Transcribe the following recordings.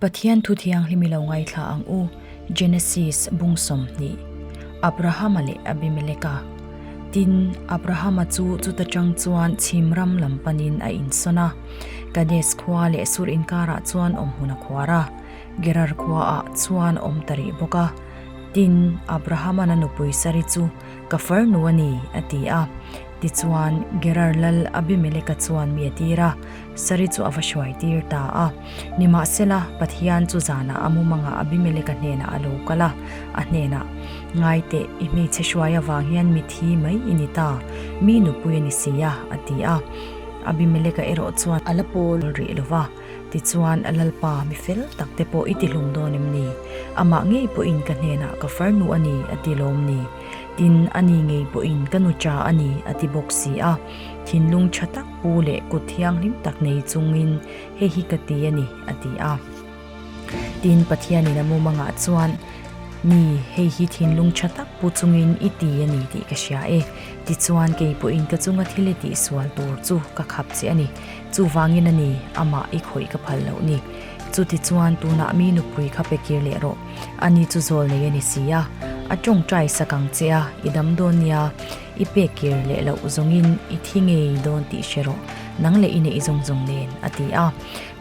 Pathian Thu Thianghlim i lo ngaithla ang u, Genesis bung sawmhnih, Abrahama leh Abimeleka. Tin, Abrahama chu chuta tang chuan chhim ram lam panin a insawn a, Kades khua leh Sur inkarah chuan awm hun a khuar a, Gerar khuaah chuan awm ta rih bawk a. Tin, Abrahama na nupui Sari chu, Ka farnu a ni, a ti a. Tichuan, Gerarlal Abimeleka chuan mi a tir a, Sari chu a va hruai tir ta a. Nimahsela, Pathian chu zanah a mumanga Abimeleka hnenah a lo kal a, a hnenah, Ngai teh, i hmeichhe hruai avang hian mit hi mai i ni ta, mi nupui a ni si a, a ti a. Abimeleka erawh chuan a la pawl rih lo va. Tichuan a lalpa mi fel tak te pawh i ti hlum dawn em ni? Amah ngei pawhin ka hnenah ka farnu a ni a ti lawm ni? Tin, a ni ngei pawhin ka nu cha a ni a ti bawk si a. Thinlung tha tak pu leh kut thianghlim tak nei chungin hei hi ka ti a ni a ti a. Tin, Pathianin a mumangah chuan Ni, hei hi thinlung tha tak pu chungin i ti a ni tih ka hria e. Tichuan kei pawhin ka chunga thil i tihsual tur chu ka khap che a ni. Chuvangin a ni, amah i khawih ka phal loh ni. Chutichuan tunah mi nupui kha pe kir leh rawh, ani chu zawl nei a ni si a, a tawngtai sak ang che a, i dam dawn nia, i pek kir leh loh zawngin i thi ngei dawn tih hre rawh, nang leh i neih zawng zawng nen, a ti a.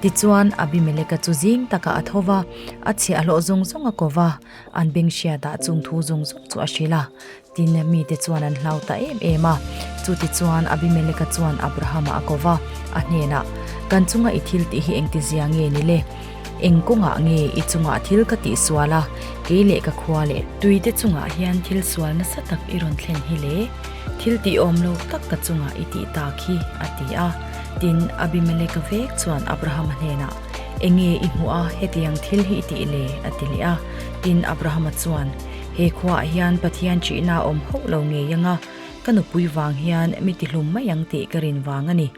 Tichuan Abimeleka chu zing taka a tho va, a chhe a hlawh zawng zawng a ko va, an beng hriatah chung thu zawng zawng chu a hrilh a. Tin, mite chuan an hlau ta em em a. Chutichuan Abimeleka chuan Abrahama a ko va, a hnenah, Kan chunga i thil tih hi engtizia nge ni le? Eng kawngah nge i chungah thil ka tih sual a? Kei leh ka khua leh. Tuite chungah hian thil sual nasa tak i rawn thlen hi le? Thil tih awm lo tak ka chungah i tih tak hi, a ti a. Tin, Abimeleka vek chuan Abrahama hnenah, Enge i hmuh a, hetiang thil hi i tih le? a ti leh a. Tin, Abrahama chuan, He khuaah hian Pathian ṭihna a awm hauh lo ngei anga ka nupui vang hian mi ti hlum mai ang tih ka rin vang a ni.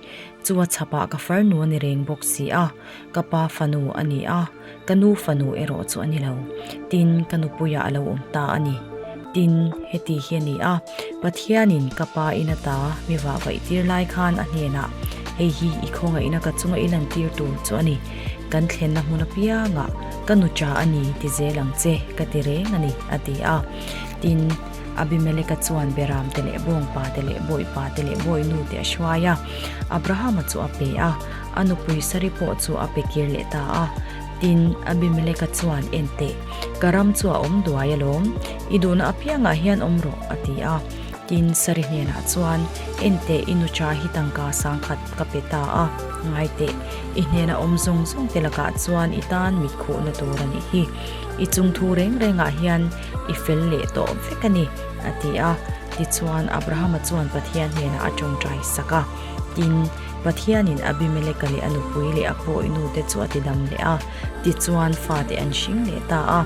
Chu a chhapah ka farnu a ni reng bawk si a, ka pa fanu a ni a, ka nu fanu erawh chu a ni lo. Tin, ka nupuiah a lo awm ta a ni. Tin, heti hi a ni a, Pathianin ka pa in ata mi vahvaih tir lai khan a hnenah, Hei hi i khawngaihna ka chunga i lantir tur chu a ni. Kan thlenna hmun apianga ka nu ṭa a ni ti zel ang che, ka ti reng a ni, a ti a. Tin, Abimeleka chuan Berante leh bawngpate leh bawihpate leh bawinute a hruai a, Abrahama chu a pe a, a nupui Sari pawh chu a pe kir leh ta a. Tin, Abimeleka chuan, Enteh, ka ram chu a awm duai alawm, i duhna apiangah hian awm rawh, a ti a. Tin, Sarihnenah chuan, Enteh i nu cha hi tangka sang khat ka pe ta a, ngai teh. I hnena awm zawng zawng te lakah chuan i tan mit khuhna tur a nih hi. I chung thu reng rengah hian i fel leh tawh vek a ni, a ti a. Tichuan, Abrahama chuan Pathian hnenah a tawngtai sak a. Tin, Pathianin Abimeleka leh a nupui leh a pawinu te chu a tidam leh a. Tichuan, fate an hring leh ta a.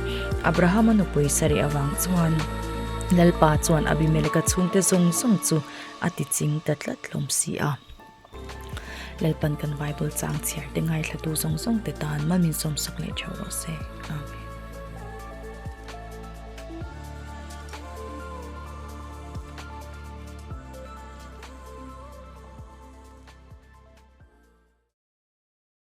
Abrahama nupui sarih avang chuan. Lalpa chuan Abimeleka chhungte zawng zawng chu a tiching ta tlat hlawm si a. Lalpan kan Bible chang chhiar te ngaithlatu zawng zawng te tan man min sawmsak leh ṭheuh rawh se. Amen.